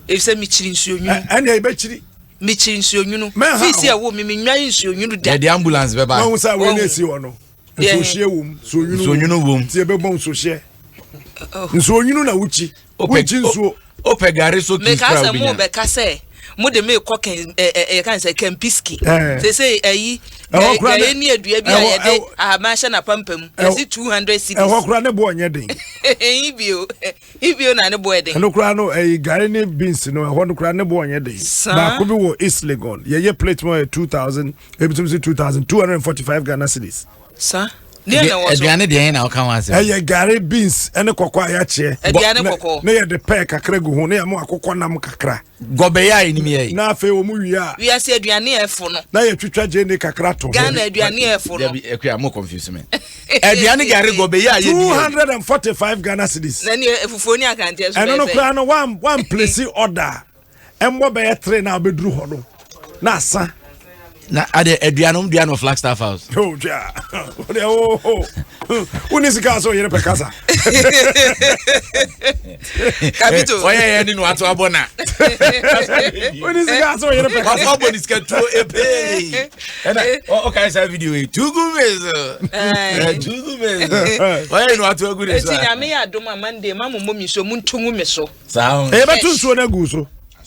efisɛ mekyiri nsuo nwunu. ɛnna ɛyɛ bɛkyiri. mekyiri nsuo nwunu. mɛha fi si ɛwo mi mi nwa yi nsuo nwunu da. yɛde ambulance bɛ ba. wɔn sɛ wɔn esi hɔ no nsuohyɛ wɔm nsuo nwunu wɔm ti ɛbɛ bɔ nsuohyɛ nsuo nwunu na wukyi wukyi nsuo. o pɛ gari so kii kura obi nya. mɛ kasa mu bɛ kasa mo de mi kɔ kɛn ɛ ɛ yɛ kan sɛ kɛmpiski. sese ɛyi ɛyɛ ni edua bi a yɛ de ahama ahyɛ na pampam yɛ si two hundred cedis. ɛhɔ kura ne bo ɔnyɛ den. ɛyin bi o. Ibio na ne bo yɛ den. Ɛno koraa no, ɛyi gari ne beans no, ɛhɔ no koraa ne bo nyɛ den. Saa. Baako bi wɔ East Legon, yɛyɛ plate mu a yɛ two thousand, ebi nso si two thousand two hundred and forty five Ghana cedis. Saa. Deɛ na ɛwɔ so. Aduane deɛ na ɔka ho asɛm. Ɛyɛ gari, beans, ɛne kɔkɔɔ a yɛakyeɛ. Aduane kɔkɔɔ. Ne yɛde pɛɛ kakra gu ho, ne yɛma akokɔ nam kakra. Gɔbɛyɛ a anim yɛ yi. Na afei wɔn wie a. Wiase aduane ɛfo no. Na yɛtwitwa gyeene kakra to ho. Ghana aduane ɛfo no. Dabi ɛkua mo confuse me. Aduane gari gɔbɛyɛ a yɛ ni. Two hundred and forty five Ghana cedis. Na ni efufuo ni akanteɛ so bɛyɛ fɛ. Ɛno no koraa no wan wan place order ɛmbɔ bɛyɛ three na abɛduru hɔ no. na asa na ade aduanom dua no flagstaff house oh, oh, oh. wone sika sɛ ɔyere pɛ kasa kabito ɔyɛ yɛ ne no ato abɔ na wone sika sɛ ɔyere pɛ kasa abɔ ne sika tuo epee ɛna ɔkae saa video yi tugu mezo tugu mezo ɔyɛ no ato agu ne so a ɛti nyame yɛ adom a monday ma mo mmɔ me so montungu me so saa ɛbɛto nsuo no agu so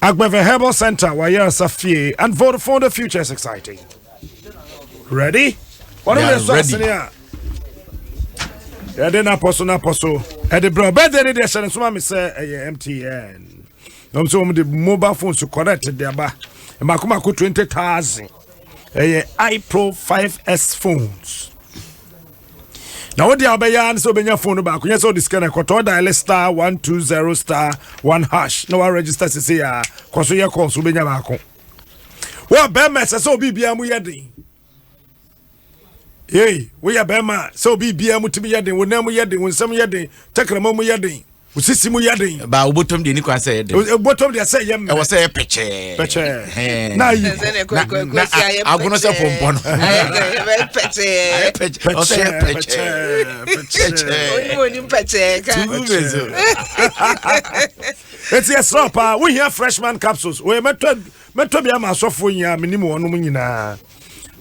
Agbeve Herbal Center, Wayera Safie, and Vodafone, the future is exciting. Ready? What are we ready? yɛde napɔ so napɔ so ɛde brɛ bɛde ne deɛ hyɛ no soma me sɛ ɛyɛ mtn na ɔm sɛ wɔm de mobile phone so connect de aba mmakomako 20000 ɛyɛ ipro 5s phones na wode a wobɛyɛ ara ne sɛ wobɛnya phone no baako nyɛ sɛ wode sika no ɛkɔtɔ diale star 120 star 1 hash na waregister sese a kɔ so yɛ call so wobɛnya baako wɔ bɛrima ɛsɛ sɛ obi biara mu yɛ den yei woyɛ bɛrima sɛ obi biara mu tumi yɛ den wo nan mu yɛ den wo nsɛm yɛ den tɛkrɛma mu yɛ den Wo sisi mu yɛ den. Ba wobɔtɔm deɛ ni kwan sɛ yɛ den. Wobɔtɔm deɛ sɛ yɛ mmerɛ. Ɛwɔ sɛ yɛ pɛkyɛɛ. Pɛkyɛɛ. Na ayi ko. Na agono sɛ pɔmpɔ no. Ayɛ pɛkyɛɛ. Ayɛ pɛkyɛɛ. Ɔsɛ yɛ pɛkyɛɛ. Pɛkyɛɛ. Onim onim pɛkyɛɛ ka. Tumu bɛ so. Eti ɛsrɛ paa wohia freshman capsules. Wɔyɛ mɛtɔ mɛtɔ bi ama asɔfoɔ nyinaa menim wɔnom nyinaa.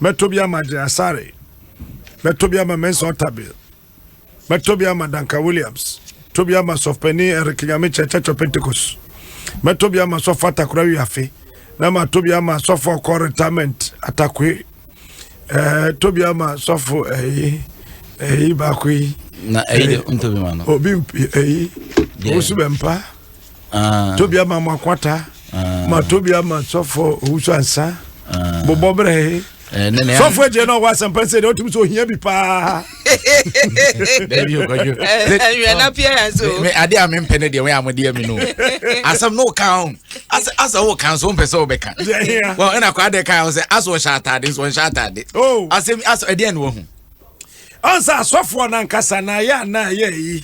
Mɛtɔ bi ama Gyasare. Mɛtɔ bi ama Mensa Otabil. Mɛtɔ bi ama Duncan Williams. Tɔ bi ama Sɔfpanin Eric Nyamekyɛ Church of Pentecost. Mɛtɔ bi ama Sɔfo Atakora Wiafe. Na matɔ bi ama Sɔfo Ɔkɔ Retirement Atakoe. Ɛɛ eh, tɔ bi ama Sɔfo ɛyi eh, ɛyi eh, baako yi. Na ɛyi de ntɔ bi ma no. Obi ɛyi. Osu bɛ mpa. ah. tobi ama mo akwata ah. ma tobi ama sɔfo owusu ansa ah. bobɔ brɛ he eh, sɔfo agye na ɔwɔ asɛmpa sɛ deɛ wotumi sɛ ohia bi paa adeɛ a mempɛ no deɛ wɛ a modeɛ me no asɛm no woka ho asɛ woka so wompɛ sɛ wobɛka ɛna kɔ adɛ ka ho sɛ asɛ ɔhyɛ atade nso ɔnhyɛ atade oh. asɛm asɛ ɛdeɛ ne wahu ɔnsɛ asɔfoɔ no ankasa na ayɛ anaa yɛ yi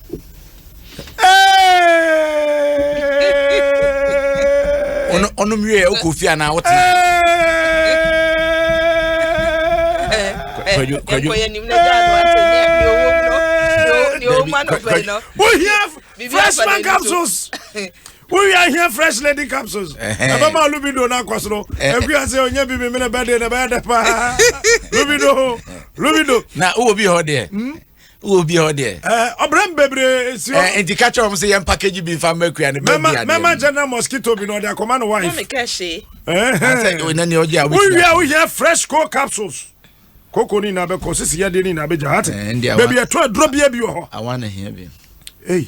ɔno mwie wokɔ fie anaa wote wohia freshman capsules wowie ahia fresh lady capsules ɛbɛma eh, eh. lubido no akɔ soro ɛkua eh. sɛ ɔnya bi memene bɛde na ɛbɛyɛ dɛ paa lubido lubido na wowɔ bi hɔ deɛ hmm? wɔ obi hɔ deɛ. ɛɛ eh, ɔbrɛ mu bebree esi hɔ. ɛɛ eh, nti kakyɛ wɔn sɛ yɛn package bi nfa mɛ kuya ne bɛ bi adeɛ. mɛma general mosquito bi na ɔde akɔma no wife. na mi kɛ se. ɛɛ ɛɛ ɔna ni ɔgye awo ti na. woyɛ woyɛ fresh cold capsules koko ni na bɛ kɔ sisi yadeɛ ni na bɛ gya hati. ɛɛ ndi awa bɛbi ɛtɔ aduro bie bi wɔ hɔ. awa na hiɛ bi. eyi.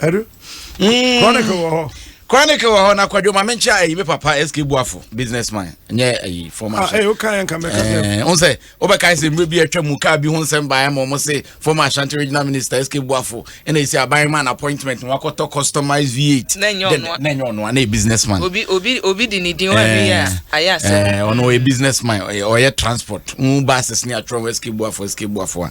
ɛdu mm. chronicle wɔ hɔ chronicle wɔ hɔ na kwadwo ma menkyɛ ayi me papa sk buafo businessman nyɛ ayi former chef wo sɛ wobɛkae sɛ mmerɛ bi atwa mu kaa bi ho nsɛm baɛ ma ɔmo se former ashanti regional minister sk buafo ɛna ɛsi aban ma an appointment wakɔtɔ customized v8 na ɛnyɛ ɔno ana businessman obi di ne din ɔno ɔyɛ businessman ɔyɛ transport wo bases ne atwerɛ ho sk buafo sk buafo a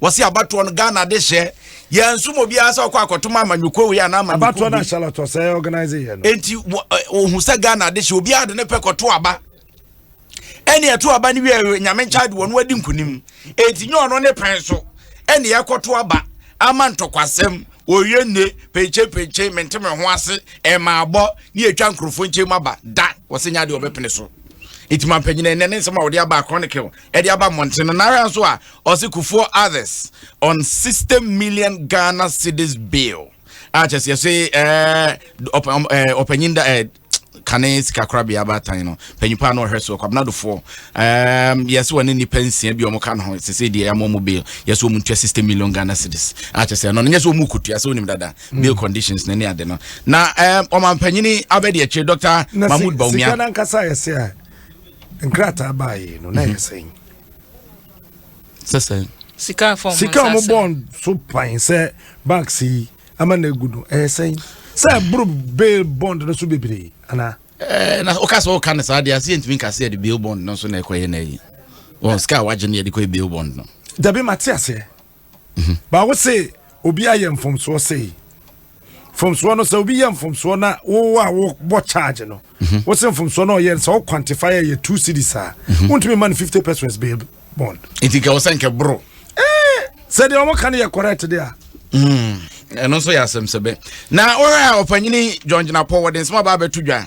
wɔsi abatoɔ no ghana de hyɛ yɛn nsum obiara sɛ ɔkɔ akɔtoma amanyɔkuo wei anaa amanyɔkuo bi abatoɔ na charlotte ɔsɛ organize yɛ no eti ohun sɛ ghana de hyɛ obiara de ne pɛ kɔto aba ɛni ɛto aba no wiɛ nyame nkyɛn de wɔn adi nkunim eti nyɛ ɔno ne pɛn so ɛni ɛkɔto aba ama ntɔkwasɛm oye ne penkye penkye mente me ho ase ɛma abɔ ne etwa nkurɔfoɔ nkyɛn mu aba da wɔsɛ nya deɛ ɔbɛpene so eti ma mpanyinɛ ɛnɛ ne nsɛm a wɔde aba chronicle ɛde aba mmɔnten no nara nso a ɔse kufuor others on 60 million ghana cedis bail a kyɛ sɛ yɛse ɛɛ ɔpanyin da ɛɛ kane sika korabea abaatan no panyimpa a na ɔhwɛ so kwabena dofoɔ um, yɛsɛ wɔne nnipa nsia bi ɔmo ka no ho sɛ sɛ deɛ ɛmɔ mo bail yɛsɛ wɔn ntua sixty million ghana cedis akyɛ sɛ ɛno no nyɛ sɛ wɔn kotua sɛ wɔnim dada mm. bail conditions na ne ade no na um, ɔmampanyini abɛdi akyire dr mahmood baumia. sika nankasa yɛsɛ a nkrataa baayɛ no na ɛyɛ mhm. sɛn sɛ sɛn sika a wɔn bɔn so pan sɛ banks yi ama na egu no ɛyɛ sɛn sɛ ɛboro bail bond no so bebree ana. ɛɛ eh, na o ka sɛ o ka ne saa de ase yɛ ntumi nka se yɛ de bail bond no so na ɛkɔ yɛ na yi wɔn sika a wagye no yɛ de kɔ yɛ bail bond no. dabi ma te aseɛ. mhm. baako se obi ayɛ mfomsoɔ sei mfomsoɔ no sɛ obi yɛ mfomsoɔ na wo a wobɔ charge no mhm. wo se mfomsoɔ no ɔyɛ sɛ wo quantify yɛ two cities a mhm. wontumi ma no fifty pesos bail bond nti nkɛ wo sɛ nkɛ boro eh, sɛ deɛ ɔmo ka no yɛ correct deɛ a hmm. ɛno nso yɛ asɛm sɛbɛ na wohwɛ a ɔpanyini john gyinapɔ wɔde nsɛm aba abɛto dwa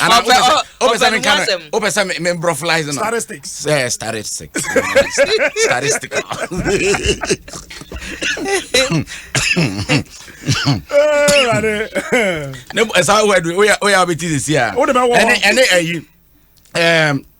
ana wopɛ sɛ wopɛ sɛ menka no wopɛ sɛ membrɔflies no statistics sɛ statistics statistics ne ɛsa woyɛ wobɛti sesi a ɛne ɛyi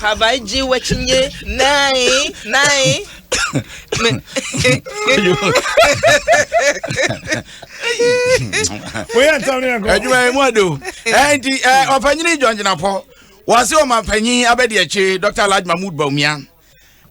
Have I ji wachinye? Nine, nine. Woyɛ ntam ne ɛkɔ. Adwuma yi mu ado. Ɛnti ɔpanyini John Gyinapɔ wɔase ɔma panyin abɛdi akyi Dr. Alhaji Mahmood Bawumia.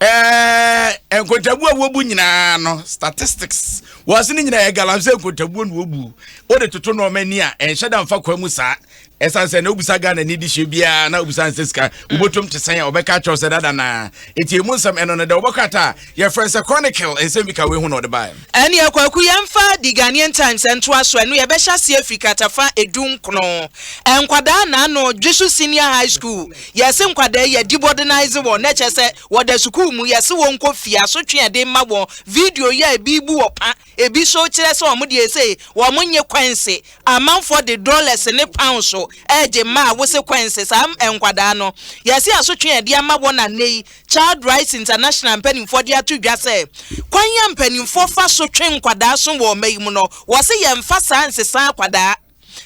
ɛɛ nkontabuo a wɔbu nyinaa no statistics wɔase no nyinaa yɛ galamsey nkontabuo na wɔbu wode toto nɔɔma ni a ɛnhyɛ da mfa kwa mu saa ɛsan sɛ na wobisa ghana ni de hyɛ biara na wobisa nsɛ sika wobɔtom te sɛn a wɔbɛka kyɛw sɛ dada naa ɛti ɛmu nsɛm ɛno no dɛ wobɛkɔ ata a yɛfrɛ sɛ chronicle ɛnsɛm bi ka wei ho na ɔde baɛ ɛne ɛkwaku yɛmfa the ghanaian times ɛntoa so ɛno yɛbɛhyɛ aseɛ firi katafa edu nkono nkwadaa naano dweso senior high school Yɛse nkwadaa yi yɛdi bɔdenaize wɔn na kyerɛ sɛ wɔda sukuu mu, yɛse wɔn nkɔ fie, asotwe a yɛde ma wɔn, video yi a ebi bu ɔpa, ebi so kyerɛ sɛ wɔn deɛ sei wɔn nye kɔɛnse, amanfoɔ de dɔlɛse ne paonse regye mma a wose kɔɛnse saa nkwadaa no, yɛse asotwe a yɛde ama wɔn na nnɛ yi Child Rights International mpaninfoɔ de ato dwa sɛ kwan a mpaninfoɔ fa so twe nkwadaa so wɔ ɔma yi mu no wɔse yɛnfa saa nsesaa akwadaa,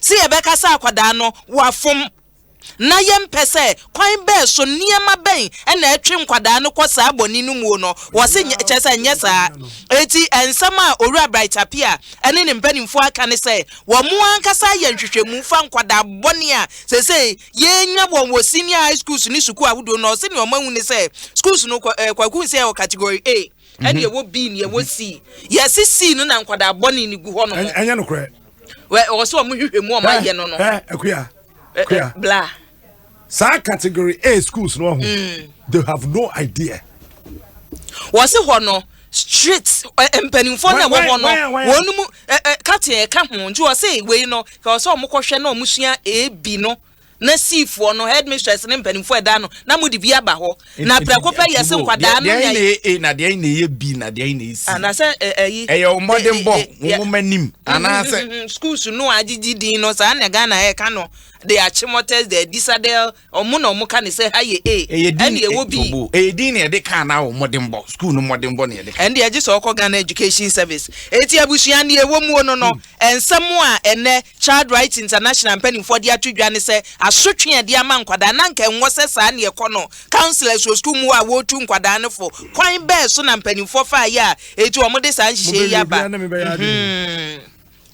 se yɛbɛka sɛ akwadaa no wafom. Ná yɛmpɛ sɛ kwan bɛn so, nneɛma bɛn na ɛtwe nkwadaa no kɔ saa bɔne no muo no, wɔse nyɛ, kyerɛ sɛ nyɛ saa. Enti nsɛm a Owura Bright Apia ne ne mpanimfoɔ aka ne sɛ wɔn ankasa ayɛ nhwehwɛmu fa nkwadaa bɔne a seesei yɛrenya wɔn wɔ senior high schools ne sukuu ahodoɔ no, ɔse nea wɔahu ne sɛ schools no, Kwaku Nsiah wɔ category A, ɛna ɛwɔ B na ɛwɔ C. Yɛse C no na nkwadaa bɔne no gu hɔ nom. Ɛnyɛ nokorɛ. wɛ ɔwɔ sɛ ɔmo hwehwɛ mu ɔmo ayɛ no no. ɛ akuya akuya bla. saa category a schools no ɔho mm. they have no idea. wɔ se hɔ no street mpanimfoɔ na ɛwɔ hɔ no wɔn mu kateɛ ɛka ho nti wɔ se wei no kɛ wɔ sɛ ɔmo kɔhwɛ na ɔmo sua ebi no. na siifoɔ no, headmistress ne mpanimfoɔ a ɛda no, na mode bi aba hɔ, na Nti, prɛko pɛ yɛse Tibo, nkwadaa deɛ- no deɛ nya. na ɛyɛ A na deɛ na ɛyɛ B na deɛ na ɛyɛ C? Anaasɛ ɛ- ɛyi. Ɛyɛ wo mmɔdenbɔ, eh, eh, wo yeah. nwoma nim, anaasɛ Mhm, mhm, Schools no a agyegye din no, saa na Ghana ɛka no. They are chimoters, they are disadel, ɔmo na ɔmo ka ne sɛ ha yɛ A, ɛyɛ din ɛne ɛwɔ B. Tibo, ɛyɛ din na ɛde kaa na wo mmɔdenbɔ, sukuu no mmɔdenbɔ na ɛde kaa. ɛnde agye sɛ ɔkɔ Ghana Education Service eti abusua ne ɛwɔ muo no no Nsɛm a ɛnnɛ Child Rights International mpanimfoɔ de ato dwa ne sɛ asotwe a ɛde ama nkwadaa na anka ɛnwɔ sɛ saa na ɛkɔ no. Counsellors wɔ sukuu mu hɔ a wɔretu nkwadaa no fo. Kwan bɛn so na mpanimfoɔ faeɛ a enti wɔde saa nhyehyɛe yi aba? Mobɛyɛ biribiara ne me.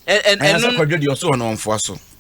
Ɛno. Anaasɛ kwadwo deɛ ɔso hɔ no ɔmfoa so?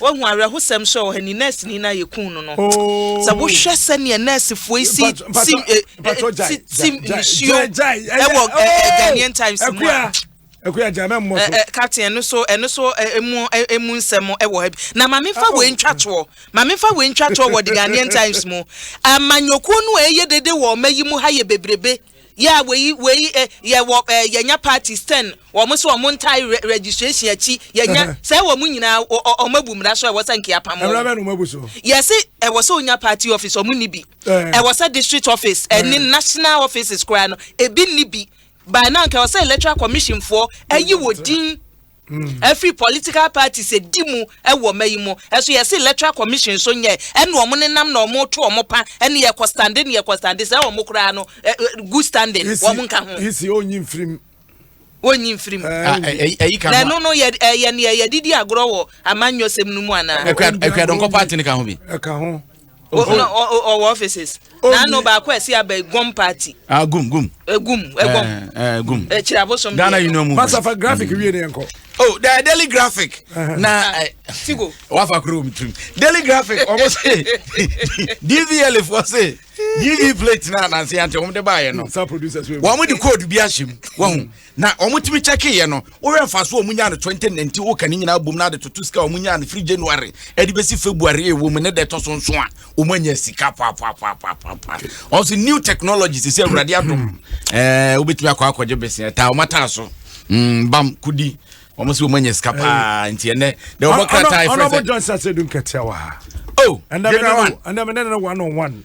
Woahu awerɛhosɛm nso a ɛwɔ ha ni, nɛɛseni no a yɛkuu no no. Sɛ wohwɛ sɛdeɛ nɛɛsefoɔ yi si tim eh, eh, tim nsuo ɛwɔ eh, Ghanaian Times mu a ɛkò agya mɛ mmɔ so. captain ɛno so ɛno so emu emu nsɛm ɛwɔ ha bi na maame nfa wɔ ntwa toɔ maame nfa wɔ ntwa toɔ wɔ the ghanaian times mu amanyokuo no a ɛyɛ dede wɔ ɔma yi mu ha yɛ bebrebe. Yeah, wei, wei, eh, yɛ wɔ, eh, yɛnya parties ten, wɔn so wɔn ntae re registration akyi, yɛnya, sɛ wɔn nyinaa, wɔn abu mmara so a ɛwɔ sɛ nka yɛapam wɔn. Mmara bɛn na wɔn abu so? Yɛse, ɛwɔ sɛ onya party office, wɔn nni bi. Ɛwɔ sɛ district office, ɛne national offices koraa no, ebi nni bi. By now, nka ɛwɔ sɛ electoral commission foɔ ayi wɔ din. Ɛfiri political parties ɛdi mu wɔ ma yi mu ɛso yɛ se electoral commission nso nyɛ ɛna ɔmo ne nam na ɔmo to ɔmo pa ɛne yɛ kɔ stande ne yɛ kɔ stande sɛ ɔmo koraa no good standing ɔmo nka ho. Isi ɔnyi mfirim. Ɔnyi mfirim. Ɛyi ka ho. Na ɛno no yɛ ɛyɛ ne yɛ didi agorɔ wɔ amanyɔsɛm no mu anaa. Ɛkura ɛkura dɔnkɔ party ne ka ho bi. Ɛka ho. ɔwɔ offices na ano baako a ɛsi aba egum party. ah gum gum. egum egum. ɛɛ gum. ekyir abosom. ghana union movement. masafa graphic wie ne yɛn kɔ. oh the daily graphic. na tigo. wafa kuro mi tirim daily graphic ɔmo se dvl fo se dv plate na anansi yan ti ɔmo de ba yɛ no. wɔn de code bi ahyɛ mu wɔn. na wɔn tumi kyɛke yɛ no wohwɛ nfaso wɔn nyaa no 2019 woka ne nyinaa bom na ade toto sika wɔn nyaa no firi january ɛde bɛsi february ɛwɔ mu ne dɛ ɛtɔ so nso a wɔn anya sika paapaapaapaapa ɔsi new technology sisi awurade adom ɛɛ wobɛtumi akɔ akɔgye bese ɛtaa wɔn ataa so mm, bam kudi wɔn si wɔn anya sika paa nti ɛnɛ dɛ wɔn krataa ɛfɛ sɛ ɔnabɔ johnson sɛ dun kɛtɛ wa ha oh ɛnna mi ne no one on one.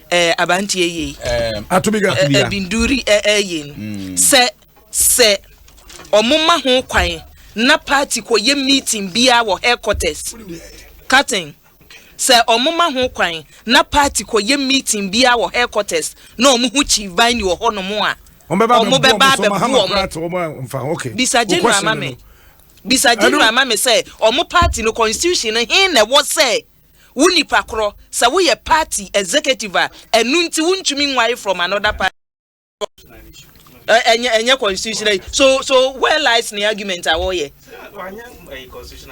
ɛɛ abanteɛ yei. ɛɛ atobiga atobiga ɛbinduri ɛɛ yɛn. Mm. sɛ sɛ ɔmo ma ho kwan na party kɔ yɛ meeting biara wɔ headquarters cutting sɛ ɔmo ma ho kwan na party kɔ yɛ meeting biara wɔ headquarters na ɔmo ho chief ban ni wɔ hɔ nom a ɔmo bɛba abɛbu ɔmo bisa general ma mi bisa general ma mi sɛ ɔmo party no constitution no hin na ɛwɔ sɛ. wo nipa korɔ sɛ wo yɛ party executive a ɛnu nti wo ntumi nwae from another party ɛnyɛ ɛnyɛ constitutional so so where lies ne argument a wɔyɛ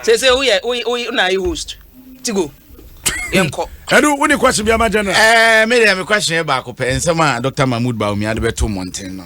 sɛ sɛ woyɛ woyɛ na ayɛ host ti go yɛnkɔ ɛdu wo ne kwasi bi ama general ɛɛ eh, me deɛ me kwasi yɛ baako pɛ nsɛm a dr mahmood baumia de bɛto mmɔnten no